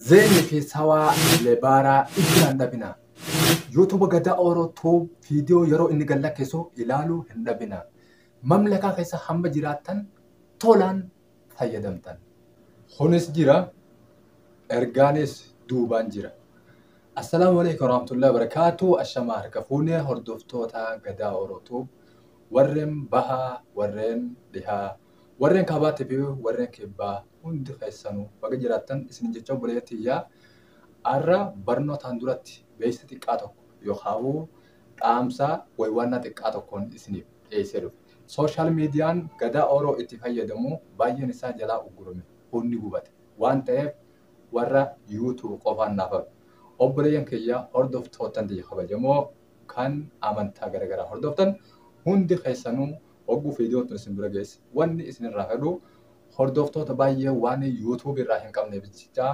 Zeenni fi sawaa lebaaraa ijjaan dhabina. YouTube Gadaa Oro Tube viidiyoo yeroo inni gad lakkisu ilaaluu hin dhabina. Mamlakaa keessa hamma jiraattan tolaan fayyadamtan. Kunis jira, ergaanis duubaan jira. Assalaamu alaikum warahmatullahi wabarakatuh. Ashamaa harka fuunee hordoftoota Gadaa Oro Tube warreen bahaa warreen dhihaa Warreen kaabaatii fi warreen kibbaa hundi keessanuu baga jiraattan isiniin jechaa obboleeyyan tiyyaa arra barnootaan duratti beeksisa xiqqaa tokko yookaawuu dhaamsa waywaannaa xiqqaa tokkoon isiniif dhiyeessee dhufe. Social median gadaa Oro itti fayyadamu baay'een isaa jalaa uggurame hunni gubate waan ta'eef warra you tube qofaan naaf hafe. Obboleeyyan kiyya hordoftoottan tiyya kabajamoo kan amantaa garagaraa hordoftan hundi keessanuu Hogguu viidiyoon tun isin bira geesse wanni isin irraa fedhu hordoftoota baay'ee waan YouTube irraa hin qabneef jecha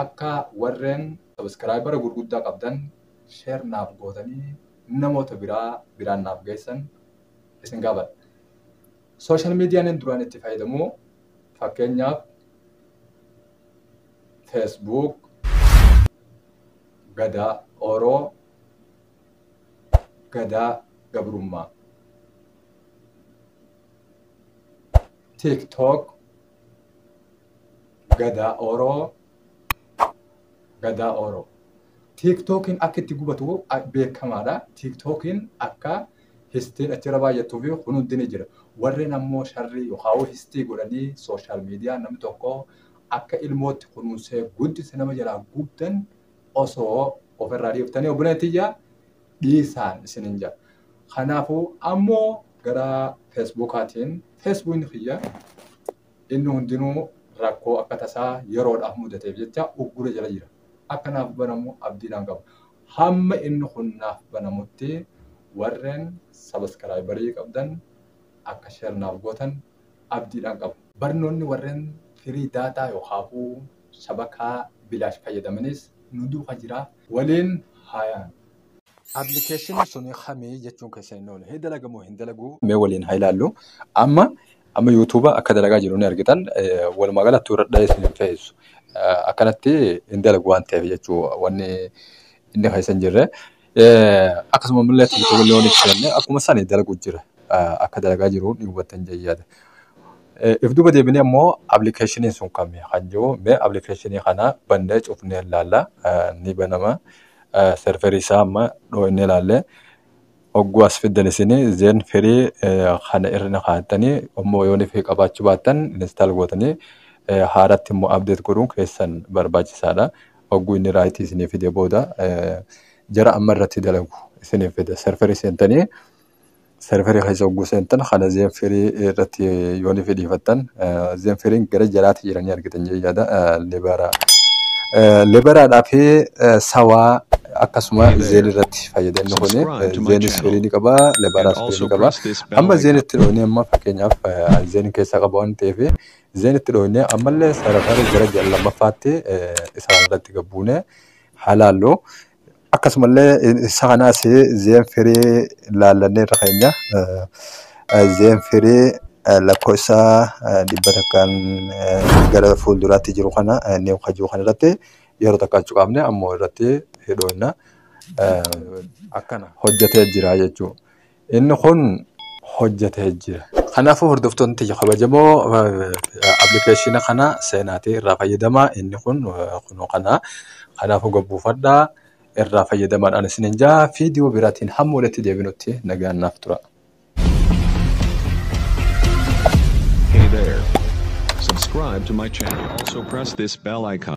akka warreen subscriber gurguddaa qabdan share naaf gootanii namoota biraa biraan naaf geessan isin gaafadha. Social media nin duraan itti fayyadamu fakkeenyaaf Facebook, Gadaa, Oro, Gadaa gabrummaa. TikTok Gadaa Oro Gadaa Oro. TikTokiin akka itti gubatu beekamaadha. TikTokiin akka histiin achirra baay'attuu fi kun hundi ni jira. Warreen ammoo sharrii yookaan histii godhanii sooshaal miidiyaa namni tokko akka ilmootti kunuunsee guddise nama jalaa gubdan osoo of irraa dhiiftanii obboleetti iyyaa dhiisaan isinin jaa. Kanaafuu ammoo gara feesbuukaatiin feesbuukni kiyya inni hundinuu rakkoo akka tasaa yeroodhaaf mudateef jecha uggura jala jira. Akka naaf banamu abdiidhaan qaba. Hamma inni kun naaf banamutti warreen sabaskiraayibarii qabdan akka sheer naaf gootan abdiidhaan qaba. Barnoonni warreen firii daataa yookaafuu shabakaa bilaash fayyadamanis nu duuka jira waliin haa yaanu. Application suni kami jechuun keessan hin oole. Hee dalaga moo hin dalagu? Mee waliin haa ilaallu. Amma amma YouTube akka dalagaa jiru ni argitan. Walumaa gala tuura dhahee isin hin fe'eessu. Akkanatti hin dalagu waan ta'eef jechuu wanni inni keessa hin jirre. Akkasuma immoo tiktook illee waan ibsanne akkuma sana dalagu jira. Akka dalagaa jiru ni hubattan jedhee yaada. If duuba deebinee immoo appilikeeshiniin sun kami kan jiru mee appilikeeshinii kana bannee cufnee ilaalla ni banama. Serverii isaa amma dhooyinee ilaallee hogguu as fiddan isin zeen firii kana irra na kaa'attanii immoo yoo ni qabaachuu baattan instaal gootanii haaratti immoo update godhuun keessan barbaachisaadha. hogguu inni raayitii isinii fide booda jara amma irratti dalagu isiniif fida. Serverii seentanii serverii keessa hogguu seentan kana zeenfirii irratti yoo ni fidhiifattan zeenfiriin gara jalaatti jiranii argitan jee yaada lebaraa. Lebaraadhaa fi sawaa akkasuma zeen irratti fayyadamni kun zeenis firii ni qaba lebaraas firii ni qaba. Amma zeen itti dhoonee amma fakkeenyaaf zeen keessaa qaba waan ta'eef Zeen itti dhooyne ammallee sararri gara ji'a lammaffaatti isaan irratti gabbuune haa laallu. Akkasumallee isa kanaas zeen firii laallannee irra keenya. Zeen firii lakkoofsa dhibba takkaan gara fuulduraatti jiru kana niiw kajuu kana irratti yeroo takka cuqaafne ammoo irratti hidhoofna. Akkana hojjetee jira jechuudha. Inni kun hojjetee jira. Kanaafuu hordoftoonni tiyya kabajamoo appilikeeshina kana seenaatii irraa fayyadamaa inni kun kunoo kana kanaafuu gabbuufadhaa irraa fayyadamaadhaan isin hin jaa viidiyoo biraatiin hamma walitti deebinutti nagaan naaf tura. Hey there. Subscribe to my channel. Also press this bell icon.